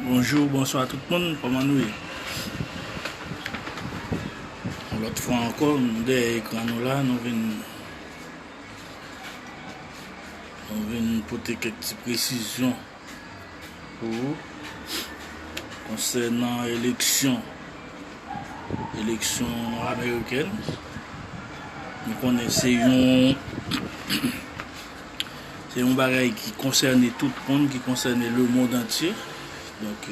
Bonjour bonsoir tout moun kòman nou ye yon lòt fwa ankò nou dèyè ekran nou la nou vin Mwen vin pote kèk ti presizyon pou ou konsènan eleksyon eleksyon amerikèn. Nou konnen se yon se yon bagay ki konsène tout moun, ki konsène le mond antye. Donk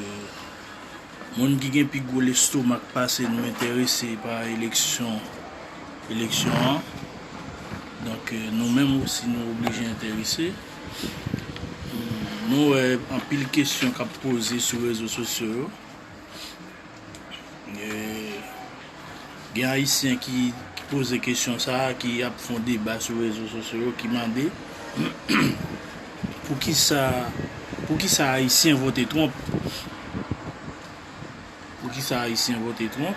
Moun ki gen pi gwo lestomak pase nou enterese pa eleksyon eleksyon an. Donk nou menm osi nou oblije enterese. Nou wè anpil kesyon k ap poze sou rezo sosyo yo. Gen ayisyen ki poze kesyon sa a ki ap fon deba sou rezo sosyo yo ki mande poukisa poukisa ayisyen vote Trump poukisa ayisyen vote Trump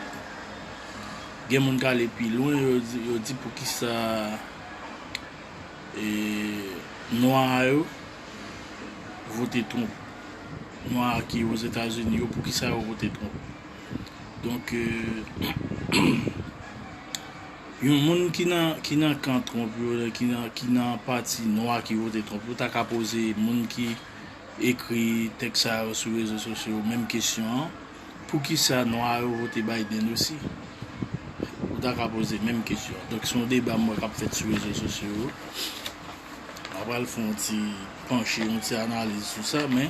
gen moun kale pi lwen yo di poukisa e nwa a yo vote Trump nwa ki ozetazini yo poukisa yo vote Trump. Donk yon moun ki nan kan Trump yo, ki nan pati nwa ki vote Trump yo ta ka poze moun ki ekri tèks sa yo sou rezo sosyo yo menm kesyon an, poukisa nwa yo vote Biden osi? Ou ta ka poze menm kesyon an. Donk se yon deba m wè k ap fèt sou rezo sosyo yo. M pa pral fè yon ti panche, yon ti analiz sou sa men.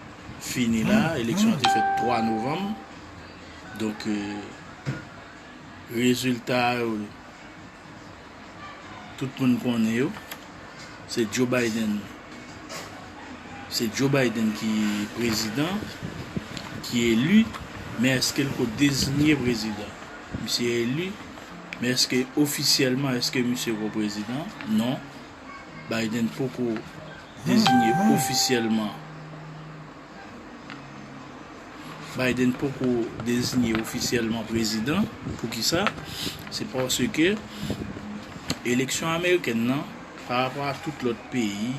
fini la, eleksyon an te fèt 3 novanm, donk rezilta yo tout moun konnen yo, se Joe Biden, se Joe Biden ki prezidan, ki eli, men eske li ko dezinye prezidan? Misye eli, men eske ofisyèlman eske misye ko prezidan? Non. Biden poko dezinye ofisyèlman Biden poko dezinye ofisyèlman prezidan. Poukisa? Se paske eleksyon amerikèn nan, pa rapò a tout lòt peyi,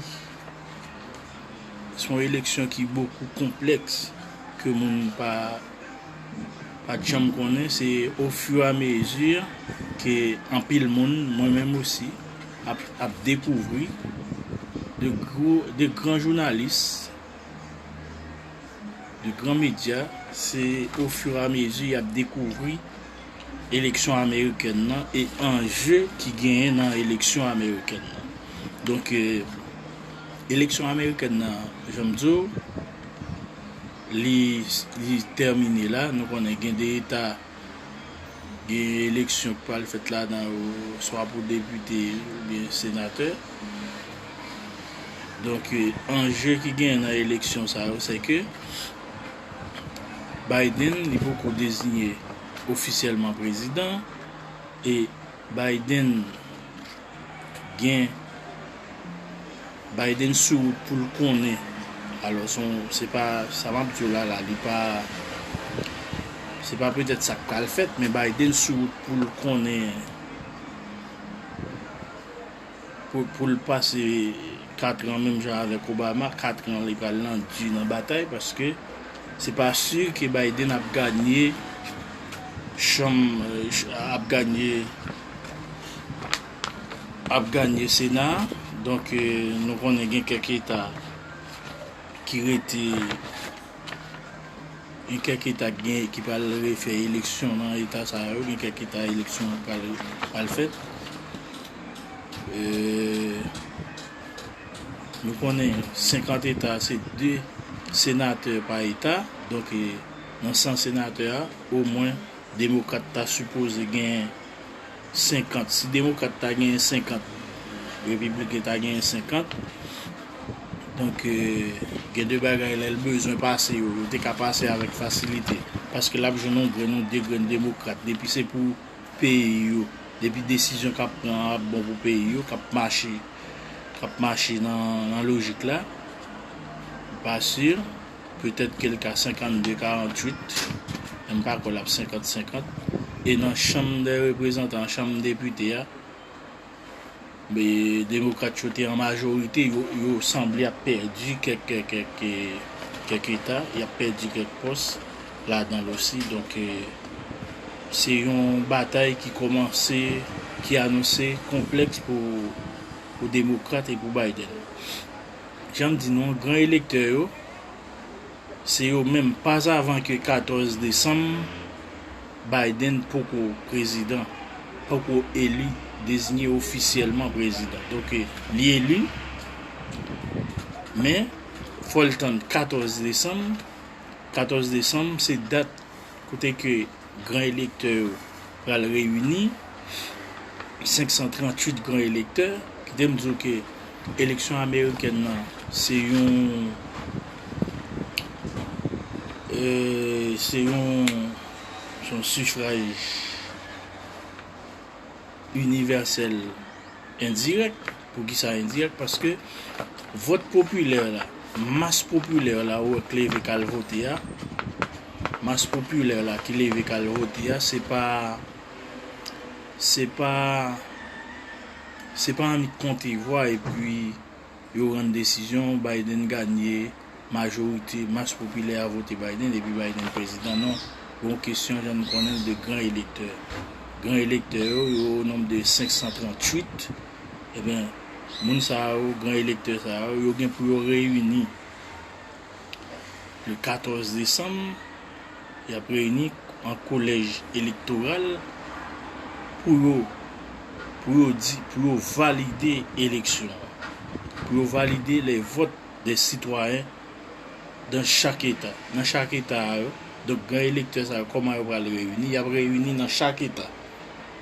se yon eleksyon ki bokou konplèks ke moun pa pa janm konnen. Se ofiramezi ke anpil moun, mwen menm osi, ap dekouvri de gwo de gran jounalis de gran medya se o fur a mezi y ap dekouvri eleksyon amerikèn nan e anje ki genyen nan eleksyon amerikèn nan donk eleksyon amerikèn nan jan m di w li tèmine la nou konnen gen de eta gen eleksyon ki pral fèt ladan yo swa pou depite oubyen senatè. Donk anje ki gen nan eleksyon sa yo se ke Biden li poko deziye ofisyèlman prezidan e Biden gen Biden sou wout pou l konnen alò son se pa sa map di w la la li pa se pa petèt sa k pral fèt men Biden sou wout pou l konnen pou l pase 4 an menm jan avèk Obama 4 an li pral nan di nan batay paske se pa si ke Biden ap ganye chanm ap ganye ap ganye sena a donk nou konnen gen kèk eta ki rete gen kèk eta ki pral refè eleksyon nan eta sa yo gen kèk eta eleksyon an pral fèt nou konnen 50 eta se 2 senatè pa eta donk nan 100 senatè a o mwen Demokrat ta sipoze genyen 50. Si demokrat ta genyen 50, repibliken ta genyen 50. Donk, gen de bagay lè l bezwen pase yo, yo te ka pase avèk fasilite. Paske l ap jwenn yon grenn ou de grenn demokrat. Depi se pou peyi yo, depi desizyon k ap pran an ap bon pou peyi yo, k ap mache, k ap mache nan lojik la, m pa si. Petèt ke l ka 52, 48, men m pa kwè l ap 50, 50. E nan chanm dè reprezantan an, chanm depite a, demokrat yo te an majorite, yo sanble ap pèdi kèk eta, y ap pèdi kèk pòs ladan l osi. Donk, se yon batay ki kòmanse, ki anonse konplèks pou demokrat e pou Biden. Jan m di nou an, gran elektè yo, se yo menm pas avan ke 14 desanm Biden poko prezidan, poko eli, dezinye ofisyèlman prezidan. Donk li eli, men fò l tann 14 desanm, 14 desanm se dat. kote ke gran elektè yo pral reyini, 538 gran elektè, kite m di w ke eleksyon amerikèn nan se yon se yon se yon sifraj inivèsèl endirèk. Poukisa endirèk? Paske vòt popilè la, mas popilè la ou wè k leve k al vote a, mas popilè la ki leve k al vote a, se pa, se pa, se pa annik konte vwa epi yo rann desizyon Biden ganye. majorite mas popilè a vote Biden epi Biden prezidan non, gon kesyon jan nou konnen l de gran elektè. Gran elektè yo, yo o nonb de 538, eben moun sa yo, gran elektè sa yo, yo gen pou yo reyini le 14 desanm, y ap reyini an kolèj elektoral pou yo, pou yo di, pou yo valide eleksyon an, pou yo valide le vòt. de sitwayen dan chak eta, nan chak eta a yo, donk gran elektè sa yo kòman yo pral reyini, y ap reyini nan chak eta,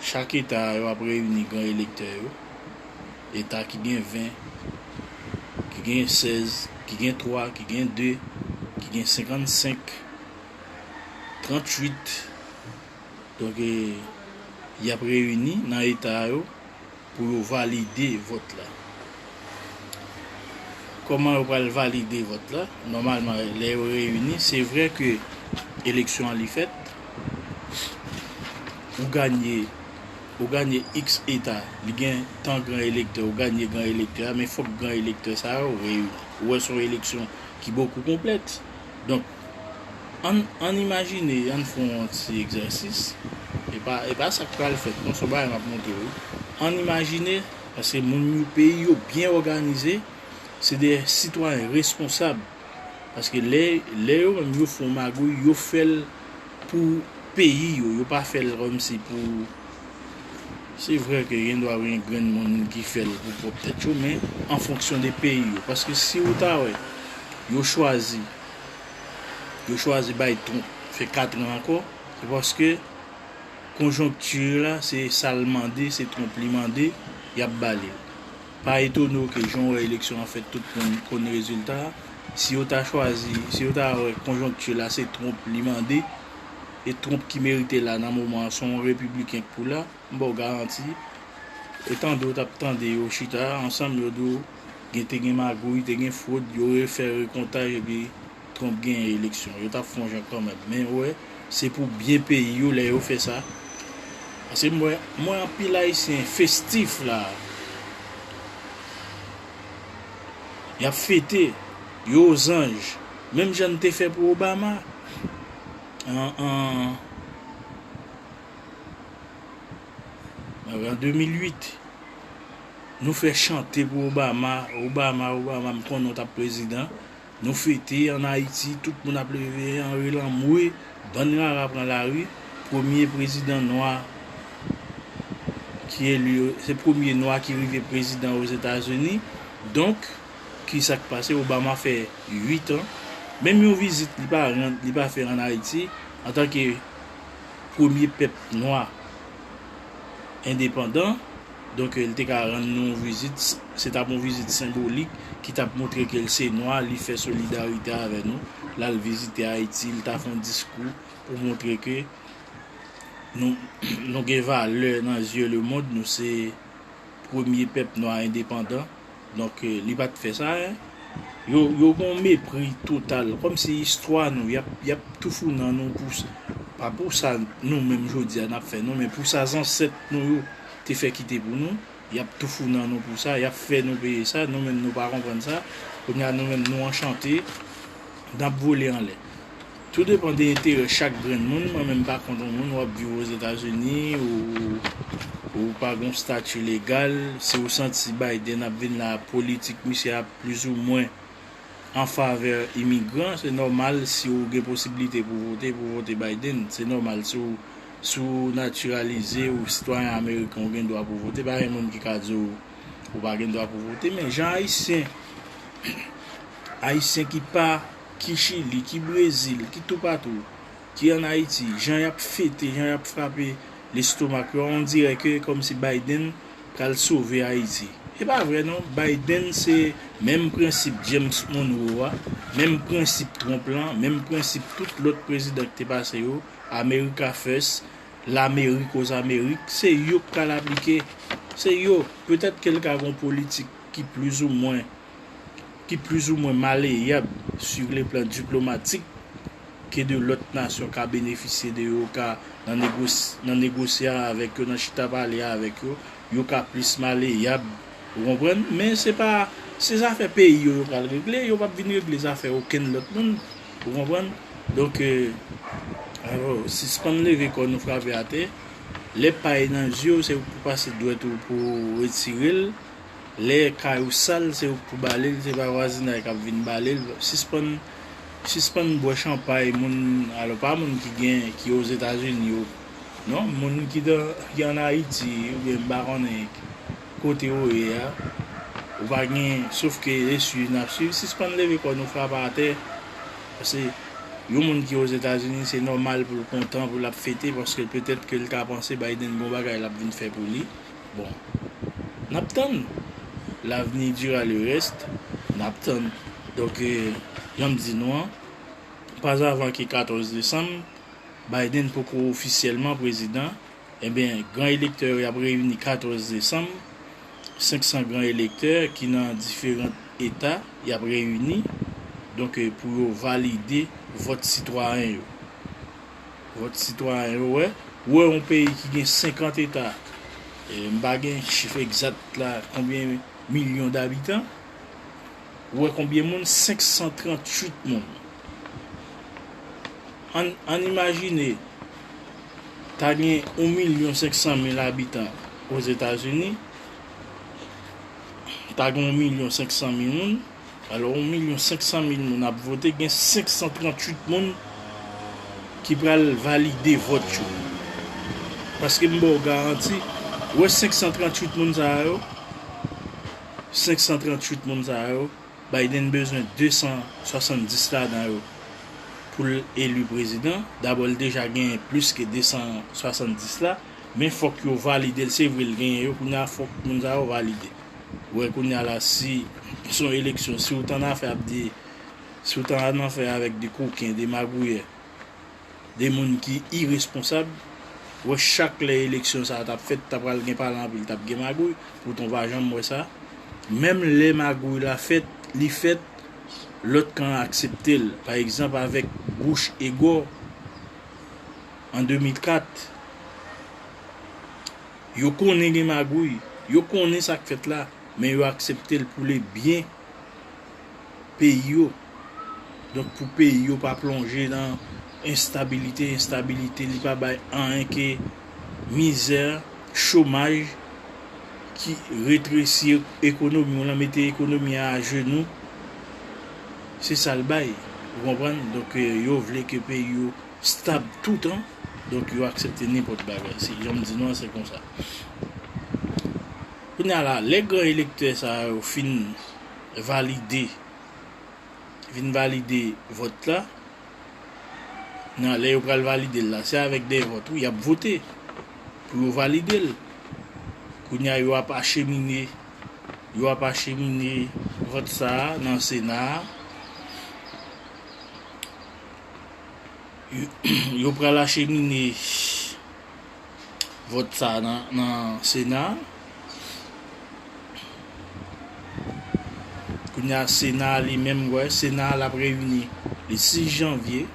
chak eta a yo ap reyini gran elektè yo, eta ki gen 20, ki gen 16, ki gen 3, ki gen 2, ki gen 55, 38, donk y ap reyini nan eta a yo, Pou yo valide vòt la. Kòman yo pral valide vòt la? Nòmalman lè yo reyini, se vre ke eleksyon an li fèt, ou ganye, ou ganye iks eta, li gen tan gran elektè, ou ganye gran elektè a, men fòk gran elektè sa yo reyini. Ou wè son eleksyon ki bokou konplèks. Donk, Ann imajine, ann fè yon ti egzèsis, e pa sa k pral fèt non, se yon bagay m ap montre w. Ann imajine, paske moun yo, peyi yo byen òganize, se de sitwayen reskonsab, paske lè yo menm yo fè yon magouy, yo fè l pou peyi yo, yo pa fè l kòmsi pou, se vre ke gendwa gen grenn moun ki fè l pou pwòp tèt yo, men an fonksyon de peyi yo, paske si ou ta wè yo chwazi. yo chwazi bay Trump fè 4 ran ankò, se paske konjonkti la se sa l mande, se Trump li mande, y ap ba li l. Pa etone w ke jan w wè eleksyon an fèt tout moun konn rezilta a, si yo ta chwazi, si yo ta wè konjonkti la se Trump li mande, e Trump ki merite la nan moman an se yon repibliken k pou la, M ba w garanti, etan do w tap tande yo chita ansanm yo di w gen te gen magouy, te gen fwod, yo refè rekontaj epi Trump genyen eleksyon. Yo tap fon jan kanmenm. Men ou wè, se pou byen peyi yo lè yo fè sa. Paske m wè, m wè anpil Ayisyen festif la a. Yap fete. Yo ozanj. Menm jan n te fè pou Obama. An, an. An 2008 Nou fè chante pou Obama Obama Obama m konnen w tap prezidan Nou fete an Ayiti tout moun ap leve Henry Lamoure bann rara pran lari premye prezidan nwa ki eli se premye nwa ki rive prezidan Ozetazini donk kisa k pase Obama fè 8 an menm yon vizit li pa rann li pa fè an Ayiti antanke premye pèp nwa endepandan, donk li te ka rann nou yon vizit, se t ap yon vizit senbolik ki t ap montre ke l se nwa, li fè solidarite avè nou, l al vizite Ayiti, li ta fè yon diskou pou montre ke nou gen valè nan zye lemonn, nou se. premye pèp nwa endepandan donk li pat fè sa hein yo yo gon mepri total kòmsi istwa nou yap yap toufou nan nou pou pa pou sa nou menm jodia nap fè non men pou sa zansèt nou yo te fè kite pou nou yap toufou nan nou pou sa yap fè nou peye sa nou menm nou pa konprann sa kounya nou menm nou anchante nap vole anlè. Tou depan de enterè chak grenn moun, mwen menm pa kont yon moun wap viv ozetazini ou pa gon stati legal, si ou santi Biden ap vin la politik misye ap plis ou mwen an favè imigran se nòmal si ou gen posibilite pou vote pou vote Biden, se nòmal si ou natiralize ou sitwayen ameriken ou gen dwa pou vote pa gen moun ki ka di w ou pa gen dwa pou vote men jan ayisyen ayisyen ki pa. ki Chili, ki Brezil, ki toupatou, ki an Ayiti, jan y ap fete, jan y ap frape lestomak yo, on dirè ke kòmsi Biden pral sove Ayiti. E pa vre non, Biden se menm prensip James Monroe a, menm prensip Trump lan, menm prensip tout lòt prezidan ki te pase yo, America First, Lamerik o Zamerik, se yo k pral aplike. Se yo. Petèt ke l ka gen yon politik ki plizoumwen ki plizoumwen maleyab su le plan diplomatik ke de lòt nasyon ka benefisye de yo ka nan negosye avèk yo, nan chita pale avèk yo, yo ka plis maleyab, ou konprann, men se pa, se zafè peyi yo yo pral regle, yo pap vin regle zafè okenn lòt moun, ou konprann, donk, alò, sispann leve kò nou frape atè, lè pay nan zye w se ou k pou pase dwèt ou pou w retire l. lè kay ou sal se ou k pou balel se pa vwazinay kap vin balel sispann sispann bwè chanpay moun alò pa moun ki gen ki ozetazini yo non moun ki dan ki an ayiti oubyen m pa konnen kote ou ye a ou pa gen sof ke e swiv nap swiv sispann leve kò nou frape atè pase yon moun ki ozetazini se nòmal poul kontan poul ap fete paske petèt ke l ta panse Biden gon bagay lap vin fè pou li. Bon nap tann l'avenir dira le reste nap tann donk janm di nou an pas avan ke 14 desanm Biden poko ofisyèlman prezidan ebyen gran elektè yo yap reyini 14 desanm 500 gran elektè ki nan diferant eta yap reyini donk pou yo valide vòt sitwayen yo. Vòt sitwayen yo wè. Ou wè yon peyi ki gen 50 eta, m pa gen chif egzat la konbyen milyon dabitan, ou wè konbyen moun, 538 moun. Ann ann imajine ta gen yon milyon 500 mil abitan Ozetazini, ta gen yon milyon 500 mil moun. Alò yon milyon 500 mil moun ap vote gen 538 moun ki pral valide vòt yo. Paske m ba w garanti, ou wè 538 moun sa a yo, 538 moun sa a yo, Biden bezwen 270 ladan yo pou l eli prezidan. Dabò l deja genyen plis ke 270 la, men fòk yo valide l. Se vre l genyen yo, kounya fòk moun sa yo valide. Wè kounya la si son eleksyon si ou tannafè ap di si ou tannafè avèk de koken de magouyè de moun ki iresponsab wè chak lè eleksyon sa tap fèt ta pral gen pale anpil tap gen magouy poutan ou pa janm wè sa menm lè magouy la fèt li fèt lòt kan an akseptel pa egzanp avèk Bush e Gore an 2004. Yo konnen gen magouy, yo konnen sa k fèt la, men yo aksepte l pou le byen peyi yo. Donk pou peyi yo pa plonje nan enstabilite, enstabilite li pa bay anyen ke mizè, chomaj ki retresi ekonomi w lan, mete ekonomi an ajenou. Se sa l bay, ou konprann? Donk yo vle ke peyi yo. Stab toutan, donk yo aksepte nenpòt bagay. Se jan m di nou an, se konsa. Kounye a la, lè gran elektè sa yo fin valide, vin valide vòt la, nan lè yo pral valide l la, se avèk dèyè vòt wi, y ap vote pou yo valide l. Kounye a yo ap achemine, yo ap achemine vòt sa a nan Sena a. Yo pral achemine vòt sa a nan sena a. Kounye a sena a li menm, wè, sena a l ap reyini le 6 janvye.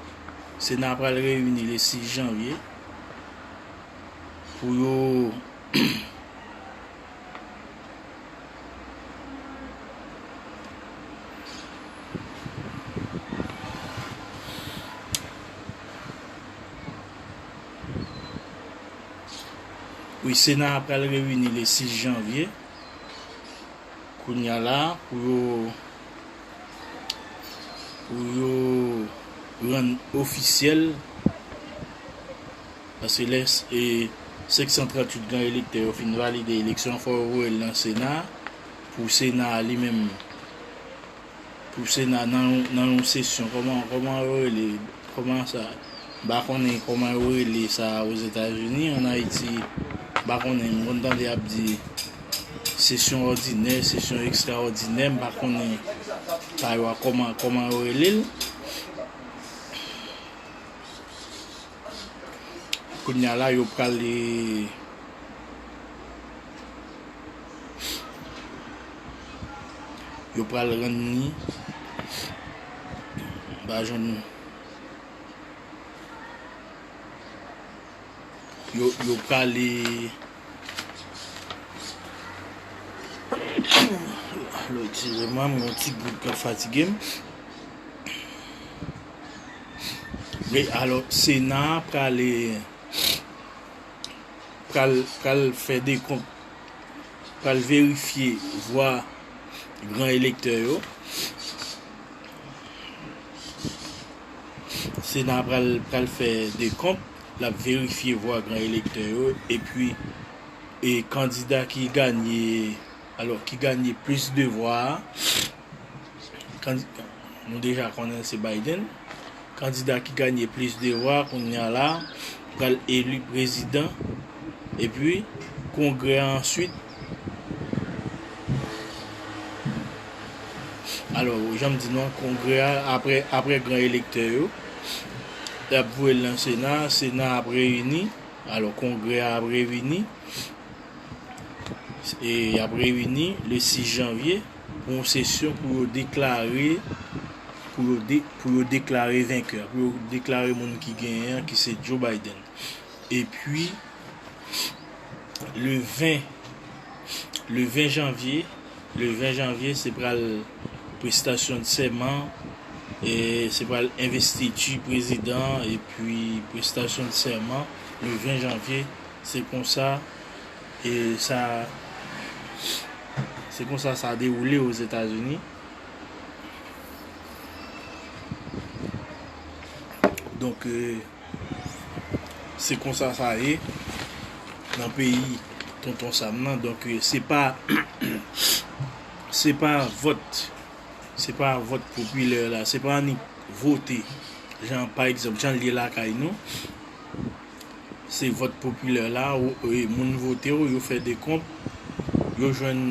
Sena a pral reyini le 6 janvye pou yo Wi sena a pral reyini le 6 janvye kounya la pou yo pou yo rann ofisyèl. Nan selès e 538 gran elektè yo fin valide eleksyon an fò yo voye l nan sena a pou sena a li menm pou sena a nan yon sesyon kòman kòman yo rele kòman sa m pa konnen kòman yo rele sa a ozetazini an ayiti m pa konnen m konn tande y ap di sesyon òdinè sesyon ekstra òdinè m pa konnen sa yo a kòman kòman yo rele l. Kounye a la yo prale yo prale rann ni ba jwenn yo yo prale Lòd jezi mwen mwen yon ti gou kap fatigem. Wi alò sena a prale pral pral fè dekont pral verifye vwa gran elektè yo sena a pral pral fè dekont l ap verifye vwa gran elektè yo epi e kandida ki ganye alò ki ganye plis de vwa a. kandida nou deja konnen se Biden, kandida ki ganye plis de vwa kounya la pral eli prezidan epi kongrè an answit alò janm di nou kongrè a apre gran elektè yo yap voye l nan sena, sena ap reyini alò kongrè a ap reyini e yap reyini le 6 janvye. Pou yon sesyon pou yo deklare pou yo pou yo deklare venkè pou yo deklare moun ki genyen an ki se Joe Biden epi le 20 le 20 janvye le 20 janvye se pral prestasyon de sèman e se pral envestiti prezidan epi prestasyon de sèman le 20 janvye se konsa E sa Se konsa sa dewoule Ozetazini. Donk se konsa sa ye nan peyi Tonton Sam nan. Donk se pa se pa vòt se pa vòt popilè la. Se pa annik vote jan pa egzanp jan l ye lakay nou. se vòt popilè la moun vote w yo fè dekonp yo jwenn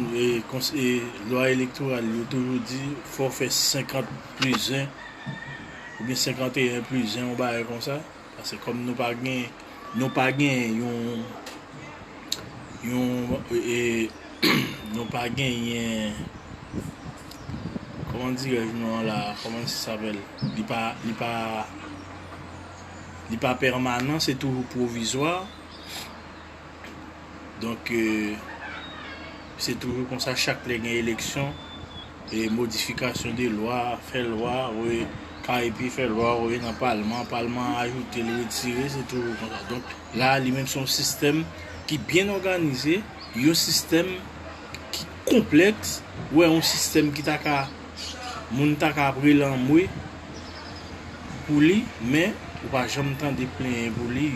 lwa elektoral yo toujou di fò w fè 50 plis 1 oubyen 51 plis 1 yon bagay konsa pase kòm nou pa gen nou pa gen yon yon nou pa gen yon kòman dirèj nou an la kòman sa sapèl li pa li pa li pa pèmanan se toujou pwovizwa donk se toujou konsa chak lè gen eleksyon e modifikasyon de lwa fè lwa wè ka epi fè lwa wè nan palman palman ajoute l retire se toujou konsa donk la li menm son sistèm ki byen òganize yon sistèm ki konplèks wè yon sistèm ki ta ka Moun ta ka ap rele anmwe pou li men ou pa janm tande plenyen pou li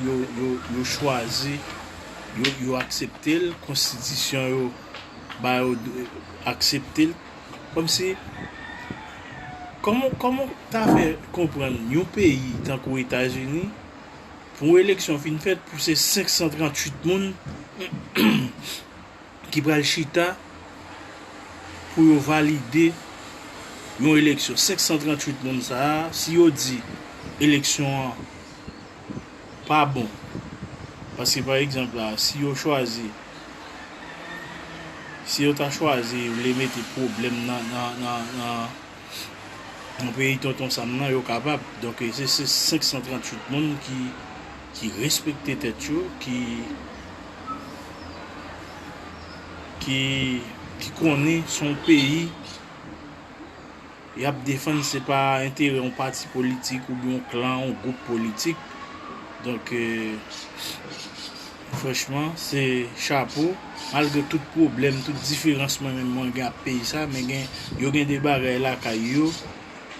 yo chwazi yo aksepte l konstitisyon yo ba yo aksepte l komsi kòman w ta fè konprann yon peyi tankou etazini Pou eleksyon fin fèt pou se 538 moun ki pral chita pou yo valide yon eleksyon. 538 moun sa a, si yo di eleksyon an pa bon, paske pa egzanp la, si yo chwazi, si yo ta chwazi vle mete pwoblèm nan, nan, nan. nan peyi tonton sam nan yo kapab donk se 538 moun ki respekte tèt yo ki konnen son peyi yap defann se pa enterè yon pati politik ou yon klan yon gwoup politik donk Franchman se chapo, malgre tout pwoblèm, tout diferans mwen menm mwen gen ak peyi sa, men gen yo gen de bagay lakay yo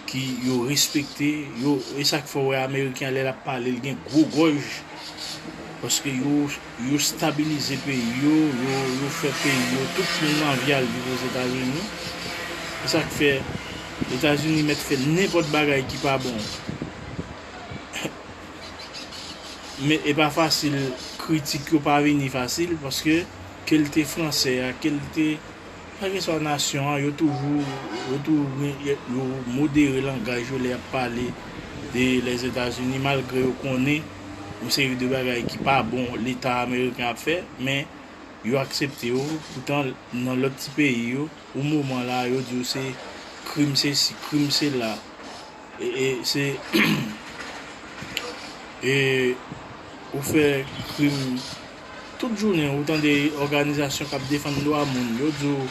ki yo respekte, yo e sak fè w wè ameriken an lè lap pale l gen gwo gòj paske yo yo stabilize peyi yo, yo yo fè peyi yo, tout moun anvi al viv ozetazini e sak fè etazini mèt fè nenpòt bagay ki pa bon. Men e pa fasil kritik yo pa vini fasil paske kel te fransè a kel te kèlkeswa nasyon an yo toujou yo toujou yo modere langaj yo lè yap pale de lèzetazini malgre yo konnen yon seri de bagay ki pa bon leta ameriken ap fè men yo aksepte yo poutan nan lòt ti peyi yo pou moman la yo diw se krim sesi krim sela. E se e ou fè krim tout jounen ou tande òganizasyon kap defann dwa moun yo di w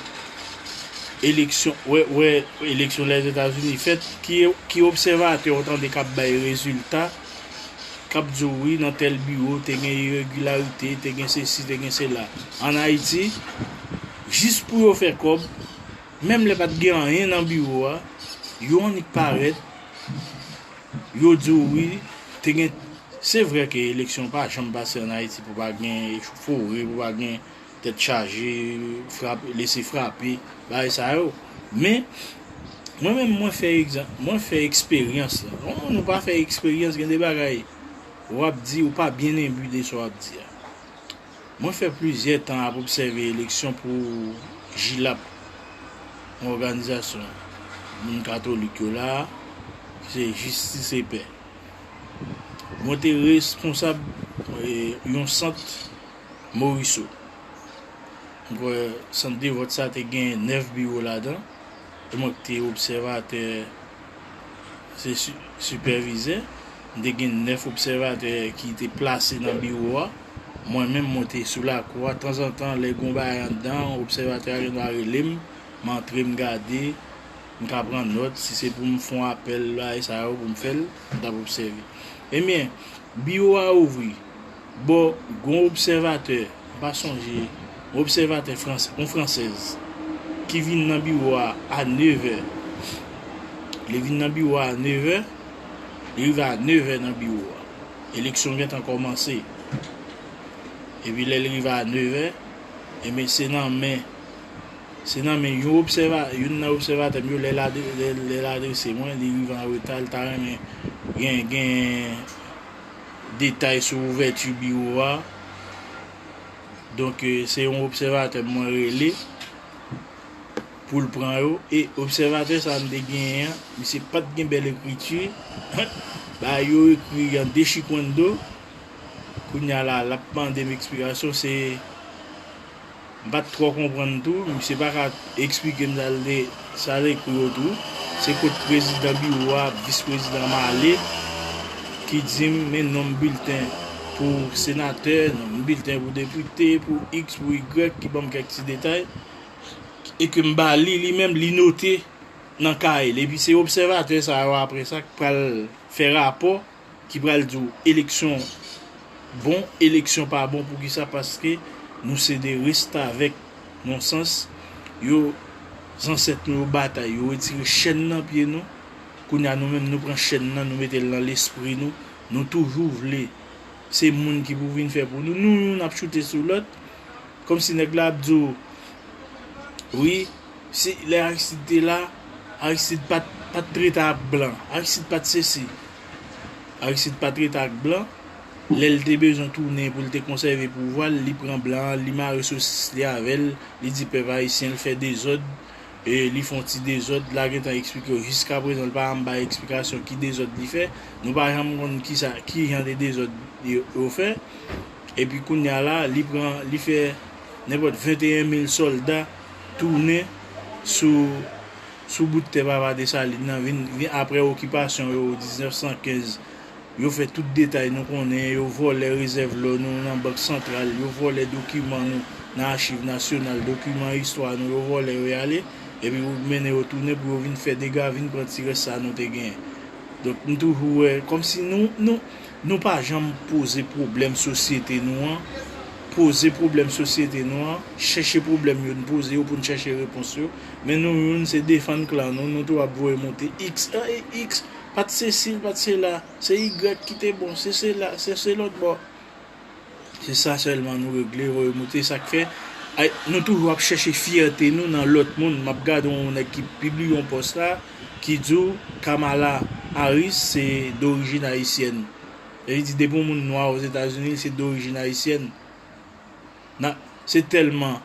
eleksyon wè wè eleksyon Lèzetazini fèt ki obsèvatè ou tande kap bay rezilta kap di w wi nan tèl biwo te gen iregilarite te gen sesi te gen sela an Ayiti jis pou yo fè kòb Menm lè pa t gen anyen nan biwo a, yo annik parèt, yo di w wi, te gen, se vre ke eleksyon pa janm pase an Ayiti pou pa gen echofore, pou pa gen tèt chaje, frape, lese frape, bagay sa yo. Men, mwen menm mwen fè egzan, mwen fè eksperyans la. Yon moun ou pa fè eksperyans gen de bagay w ap di, ou pa byen enbi de sa w ap di a. Mwen fè plizyè tan ap obsève eleksyon pou Jilap, yon òganizasyon moun katolik yo la a, ki se Jistis e Pè. Mwen te responsab yon sant Moriso. M kwè sant de vòt sa te gen 9 biwo ladan, e mwen ki te obsèvatè. se sipèvizè. M te gen nèf obsèvatè ki te plase nan biwo a. Mwen menm mwen te sou lakou a. Tanzantan, lè gen yon bagay anndan an, obsèvatè a gendwa rele m. M antre m gade, m ka pran nòt. Si se pou m fè yon apèl, bagay sa yo pou m fè l, m t ap obsève. Ebyen, biwo a ouvri. Bon, gon obsèvatè, m pa sonje, yon obsèvatè fransè, yon fransèz, ki vin nan biwo a a nevè. Li vin nan biwo a a nevè, li rive a nevè nan biwo a. Eleksyon gen tan kòmanse. Epi lè li rive a nevè, enben se nan men, se nan men yon obsèva, youn nan obsèvatè m yo lè l adrese mwen, li rive an reta, li ta renmen gen, gen. detay sou ouvèti biwo a. Donk se yon obsèvatè mwen rele pou l pran yo. E obsèvatè sa m te genyen an, misye pa t gen bèl ekriti. Bagay yo ekri an dechikwendo. Kounye a la, l ap mande m eksplikasyon. Se M pat twò konprann tou, misye pa ka eksplike m sa l te sa l ekri yo tou. Se kot prezidan biwo a, vis prezidan m ale ki di m men non m bilten pou senatè, non m bilten pou depite, pou iks, pou igrèk ki ban m kèk ti detay e ke m ba li li menm li note nan kaye l epi se obsèvatè sa yo aprè sa k pral fè rapò ki pral di w eleksyon bon eleksyon pa bon poukisa paske nou se de restavèk non sans yo zansèt nou yo batay yo retire chèn nan pye nou kounya nou menm nou pran chèn nan nou mete l nan lespri nou nou toujou vle se moun ki pou vin fè pou nou nou youn ap choute sou lòt kòmsi nèg la ap di w wi Se lè Aristide te la, Aristide pat pat trete ak blan, Aristide pat sesi. Aristide pa trete ak blan, lè l te bezwen tounen pou l te konsève pouvwa l, li pran blan an, li mare sosis li avè l, li di pèp ayisyen l fè dezòd, li fon ti dezòd, la gentan eksplike w jiska prezan l pa janm bay eksplikasyon ki dezòd li fè, nou pa janm konn kisa ki jan de dezòd yo fè. Epi kounya la li pran li fè nenpòt 21 mil sòlda tounen sou sou bout tè papa Desalin nan vin vin aprè okipasyon yo 1915 yo fè tout detay nou konnen yo vòlè rezèv lò nou nan bank santral yo vòlè dokiman nou nan achiv nasyonal dokiman istwa nou yo vòlè yo y ale epi pou mennen yo tounen pou yo vin fè dega vin pran ti rès sa nou te gen donk m toujou wè kòmsi nou nou Nou pa janm poze pwoblèm sosyete nou an, poze pwoblèm sosyete nou an, chèche pwoblèm yo n poze yo pou n chèche repons yo, men nou youn se defann klan nou, nou tou ap voye monte X, an e X pat sesi l pat sela, se Y ki te bon, se sela, se lòtbò. Se sa selman nou regle voye moute sak fè nou toujou ap chèche fyète nou nan lòt moun map gade yon nèg ki pibliye yon pòs la ki di w Kamala Harris se dorijin ayisyèn e li di depi yon moun nwa ozetazini li se dorijin ayisyèn se tèlman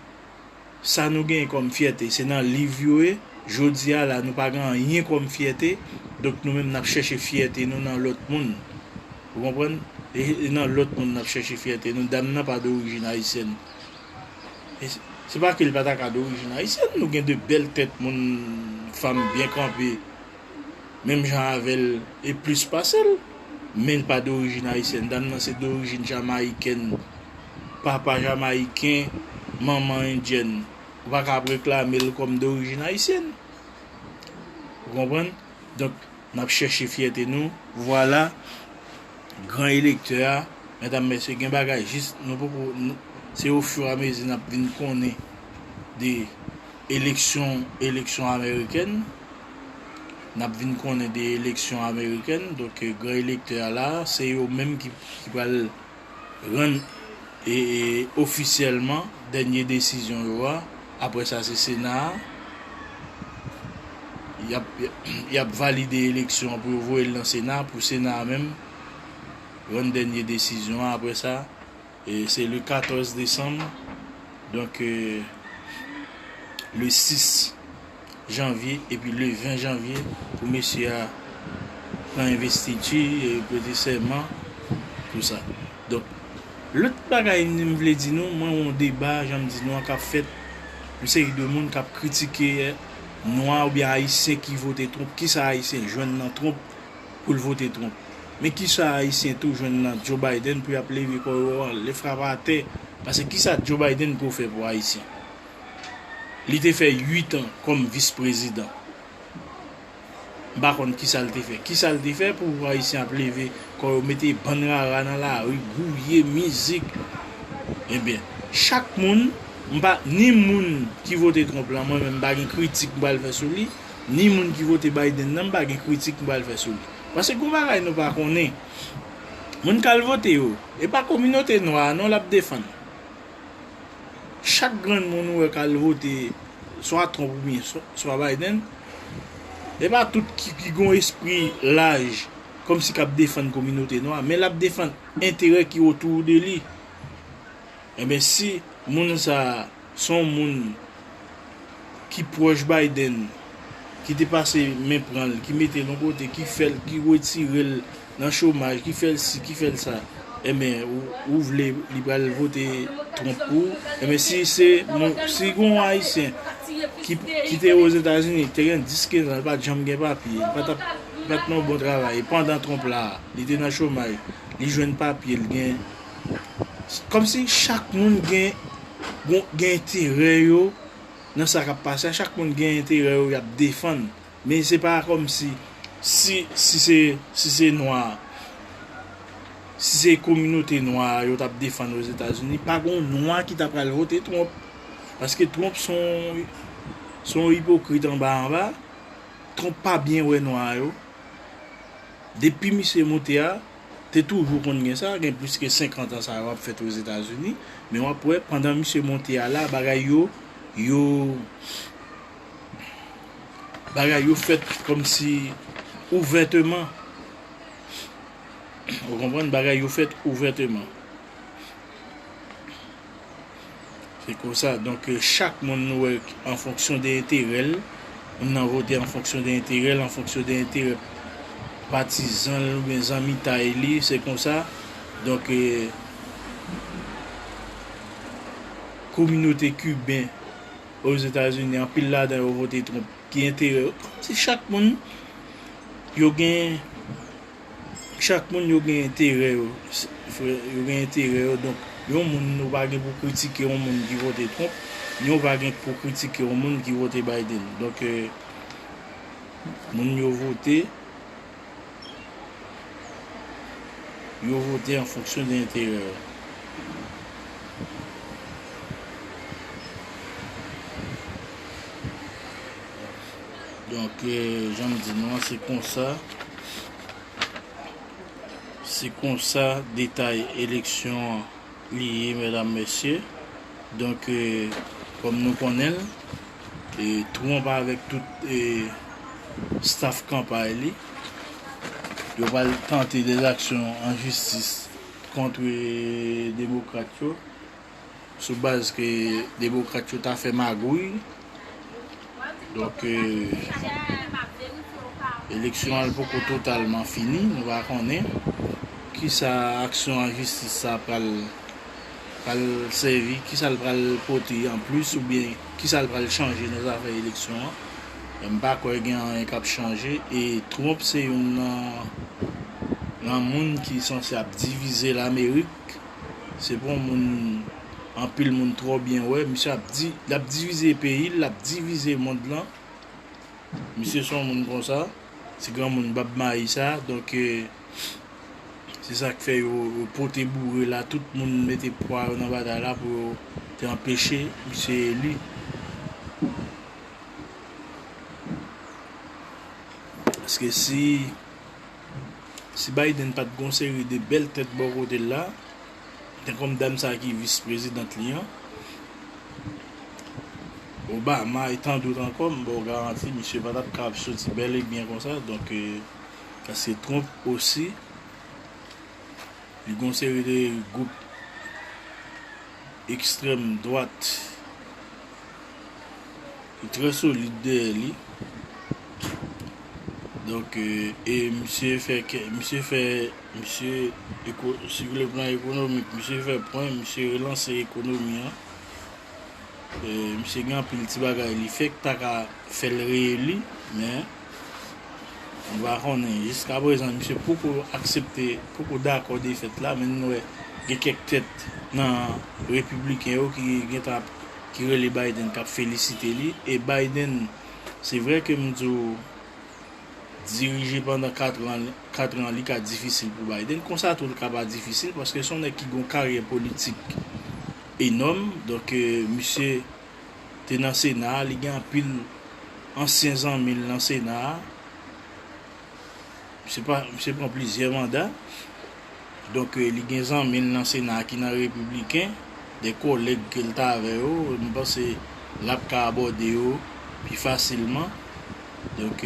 sa nou genyen kòm fyète se nan liv yo ye, jodi a la nou pa gen anyen kòm fyète, donk nou menm n ap chèche fyète nou nan lòt moun. Ou konprann? E nan lòt moun n ap chèche fyète nou. Dam nan pa dorijin ayisyèn. E se pa ke li pa ta ka dorijin ayisyèn, nou gen de bèl tèt moun, fanm byen kanpe. menm jan avè l e plis pase l, men l pa dorijin ayisyèn. Dam nan se dorijin jamayikèn, papa jamayiken, manman endyèn. Ou pa ka ap reklame l kòm dorijin ayisyèn. Ou konprann? Donk, n ap chèche fyète nou. Vwala, gran elektè a, medam, mesye, gen bagay jis nou poko, se ofiramezi n ap vin konnen de eleksyon, eleksyon amerikèn. nap vin konnen de eleksyon amerikèn donk gran elektè a la se yo menm ki pral rann e ofisyèlman dènye desizyon yo a aprè sa se sena a yap valide eleksyon an pou yo voyel nan sena pou sena a menm rann dènye desizyon an aprè sa. Se le 14 desanm, donk le 6 janvye epi le 20 janvye pou mesye a pran envestiti, prete sèman, tout sa. Donk, lòt bagay m vle di nou, mwen wè yon deba, jan m di nou an, k ap fèt, yon seri de moun k ap kritike nwa oubyen ayisyen ki vote Trump, kisa ayisyen jwenn nan Trump? pou l vote Trump. Men kisa Ayisyen tou jwenn nan Joe Biden pou yap leve kò yo an lè frapa atè pase kisa Joe Biden ko fè pou Ayisyen? Li te fè 8 an kòm vis prezidan. M pa konn kisa l te fè. Kisa l te fè pou Ayisyen ap leve kò yo mete bann rara nan lari, gouye, mizik. Ebyen, chak moun, m pa, ni moun ki vote Trump lan mwen menm m pa gen kritik m pral fè sou li, ni moun ki vote Biden nan m pa gen kritik m pral fè sou li. Paske gon bagay nou pa konnen, moun k al vote yo, e pa kominote nwa a non l ap defann. Chak grenn moun ou wè k al vote swa Trump oubyen swa Biden, e pa tout ki gon espri laj kòmsi k ap defann kominote nwa, men l ap defann enterè ki otou de li. Enben si moun sa a Son moun ki pwòch Biden ki te pase men pran l, ki mete l yon kote, ki fè l, ki retire l nan chomaj, ki fè l si, ki fè l sa, enben ou vle li pral vote Trump pou ou? Enben si se moun, si gen yon Ayisyen ki te Ozetazini, te gen 10, 15 an, li pa t janm gen papye, li pa t ap, li pa t nan yon bon travay, pandan Trump la, li te nan chomaj, li jwenn papye, li gen. Kòm si chak moun gen gen enterè yo nan sa k ap pase a, chak moun gen enterè yo y ap defann. Men se pa kòm si, si si se si se nwa, si se kominote nwa a yo t ap defann Ozetazini, pa gon nwa ki ta pral vote Trump. Paske Trump s on s on ipokrit anba anba. Trump pa byen wè nwa yo. Depi misye moute a. Te toujou konn gen sa, gen plis ke 50 an sa yo ap fèt Ozetazini, men wap wè pandan misye monte a la bagay yo yo bagay yo fèt kòmsi ouvèteman ou konprann bagay yo fèt ouvèteman. Se konsa, donk chak moun nou wè an fonksyon de enterè l, moun nan vote an fonksyon de enterè l, an fonksyon de enterè patizan l oubyen zanmitay li, se konsa, donk kominote kiben ozetazini anpil ladan yo vote Trump ki enterè yo, kòmsi chak moun yo gen. Chak moun yo gen enterè yo frè, yo gen enterè yo donk yon moun ou pa gen pou kritike yon moun ki vote Trump ni ou pa gen pou kritike yon moun ki vote Biden donk moun yo vote yo vote an fonksyon de enterè yo. Donk, jan m di nou an, se konsa, se konsa detay eleksyon an li ye medam mesye. Donk, kòm nou konnen l, Trump avèk tout staf kanpay li, yo pral tante dè zaksyon an jistis kontre demokrat yo. sou baz ke demokrat yo ta fè magouy, donk eleksyon an poko totalman fini, nou pa konnen kisa aksyon an jistis sa pral pral sèvi, kisa l pral pote an plis oubyen kisa l pral chanje nan zafè eleksyon an, men m pa kwè gen anyen k ap chanje e Trump se youn nan nan moun ki sanse ap divize Lamerik. se bon moun anpil moun trò byen wè misye ap di lap divize peyil lap divize mond lan misye son moun konsa ti granmoun bab mayi sa donk se sak fè yo pote boure la tout moun mete pwa yo nan batay la pou yo te anpeche misye eli paske si Si Biden pat gen yon seri de bèl tèt bò kote l la, tankou dam sa ki vis prezidant li an, Obama e tant dot ankò, m ba w garanti misye pa tap kapab soti bèl e byen konsa. Donk, paske Trump osi, li gen yon seri de gwoup. ekstrèm dwat ki trè solid dèyè li. Donk, e misye fè kè, misye fè, misye, si vle plan ekonomik, misye fè pwen, misye relanse ekonomi an. Misye gen anpil ti bagay li fè ki ta ka fè l reyeli, men. Nou pa konnen, jiska prezan misye poko aksepte, poko dakò defèt la, men nou wè gen kèk tèt nan repibliken yo ki gentan ap, ki rele Biden kap felisite li, e Biden se vrè ke m di w dirije pandan 4 an, 4 an li ka difisil pou Biden, konsa tou li ka pa difisil paske son nèg ki gon karyè politik enòm, donk misye. te nan sena a li gen anpil ansyen zanmi l nan sena a misye pa misye pran plizyè manda donk li gen zanmi l nan sena a ki nan repibliken de kolèg ke l t avè yo m panse l ap ka abòde yo pi fasilman donk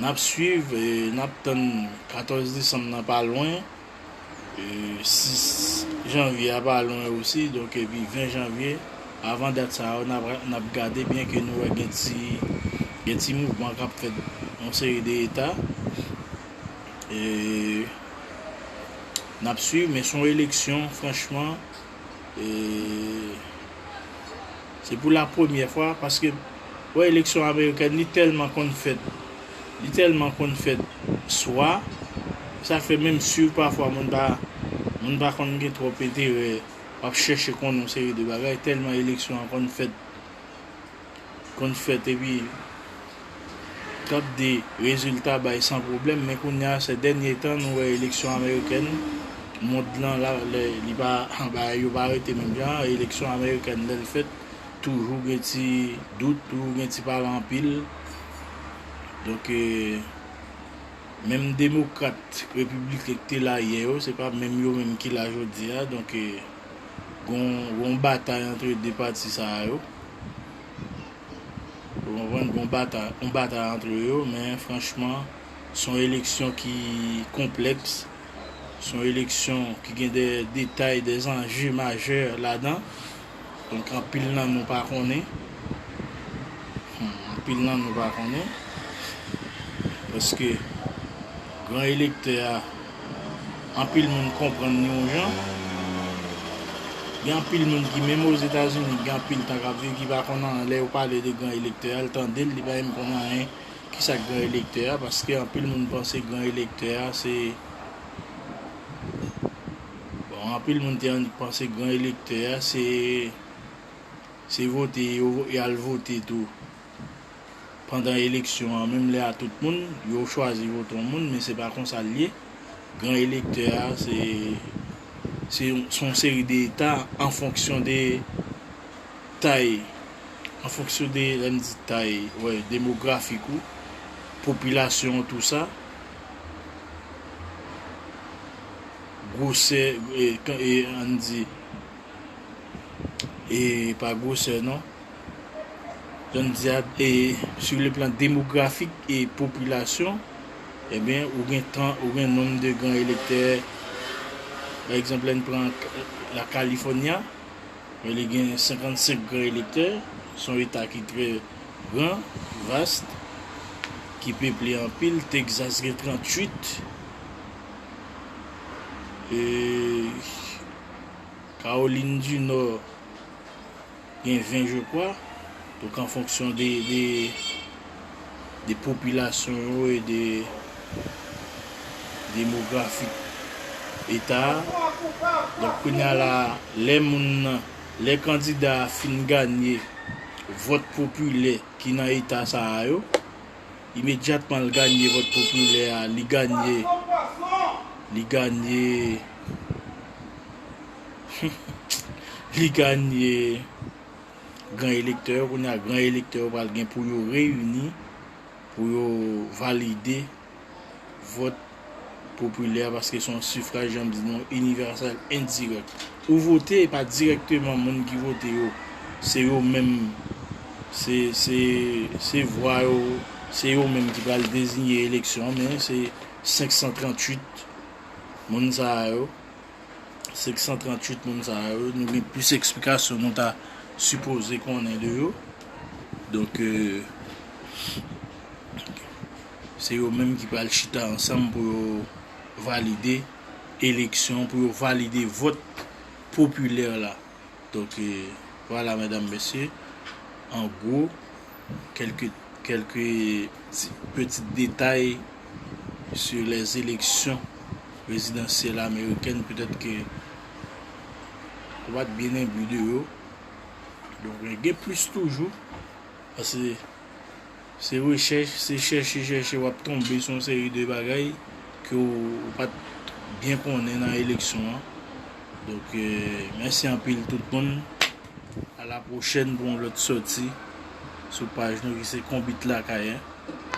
n ap swiv n ap tann 14 desanm nan pa lwen. 6 janvye a pa lwen osi donk epi 20 janvye avan dat sa yo nap gade byen ke nou wè gen ti gen ti mouvman kap fèt yon seri de eta e nap swiv men son eleksyon franchman e Se pou la premyè fwa paske wè eleksyon amerikèn li tèlman konn fèt li tèlman konn fèt swa sa fè menm siw pafwa moun pa moun pa konn gen twòp enterè wap chèche konnen yon seri de bagay tèlman eleksyon an konn fèt konn fèt epi Tap di rezilta bay san pwoblèm men kounya sè dènye tan nou wè eleksyon amerikèn mond lan la lè li pa bagay yo pa rete menm jan eleksyon amerikèn lèl fèt toujou gen ti dout toujou gen ti pale anpil donk menm demokrat repibliken ki te la yè yo se pa menm yo menm ki la jodia donk gon batay antre 2 pati sa yo. Ou konprann gon batay, yon batay antre yo men franchman son eleksyon ki konplèks, son eleksyon ki gen dè detay, dè zanje majè ladan, donk anpil nan nou pa konnen, anpil nan nou pa konnen paske gran elektè a Anpil moun konprann li yon jan. Gen anpil moun ki menm Ozetazini ki gen anpil tan k ap viv ki pa konn anyen. Lè yo pale de gran elektè a, l tande l, li pa menm konn anyen ki sa k gran elektè a. Paske anpil moun panse gran elektè a se, bon anpil moun te annik panse gran elektè a se, se vote y al vote tou. pandan eleksyon an menm lè a tout moun yo chwazi vote yon moun men se pa konsa l ye gran elektè a se se yon seri de eta an fonksyon de tay an fonksyon de lè m di tay wè demografik ou popilasyon w tou sa gwosè e an n di. e pa gwosè non. Jan n di a, e sou le plan demografik e popilasyon, ebyen ou gen tan, ou gen nonm de gran elektè, pa egzanp lè n pran la California, e li gen 55 gran elektè, s on eta ki trè gran, vast, ki peple anpil, Texas gen 38, e. Caroline du Nord gen 20 je kwa, donk an fonksyon de de popilasyon yo e de demografi eta a, donk kounya la lè moun nan, lè kandida a fin ganye vòt popilè ki nan eta sa a yo, Imedyatman l ganye vòt popilè a, li ganye, li ganye, humm, li ganye gran elektè yo. Kounye a, gran elektè yo pral gen pou yo reyini, pou yo valide vòt popilè a paske se yon sifraj jan m di nou inivèsèl endirèk. Ou vote e pa dirèkteman moun ki vote yo se yo menm se se se vwa yo se yo menm ki pral dezinye eleksyon an men se 538 moun sa a yo 538 moun sa a yo nou gen plis eksplikasyon nou ta sipoze konnen de yo donk. Se yo menm ki pral chita ansanm pou yo valide eleksyon, pou yo valide vòt popilè la. Donk, vwala medam mesye, an gwo, kèlke, kèlke ti petit detay sou les eleksyon prezidansyèl amerikèn, petèt ke ou pa t byen enbi de yo. Donk, gen plis toujou, pase. Se rechèch, se chèche chèche wap tonbe sou yon seri de bagay ke w pat byen konnen nan eleksyon an. Donk mèsi anpil tout moun. A la pwochèn pou yon lòt sòti sou paj nou ki se Konbit Lakay 1.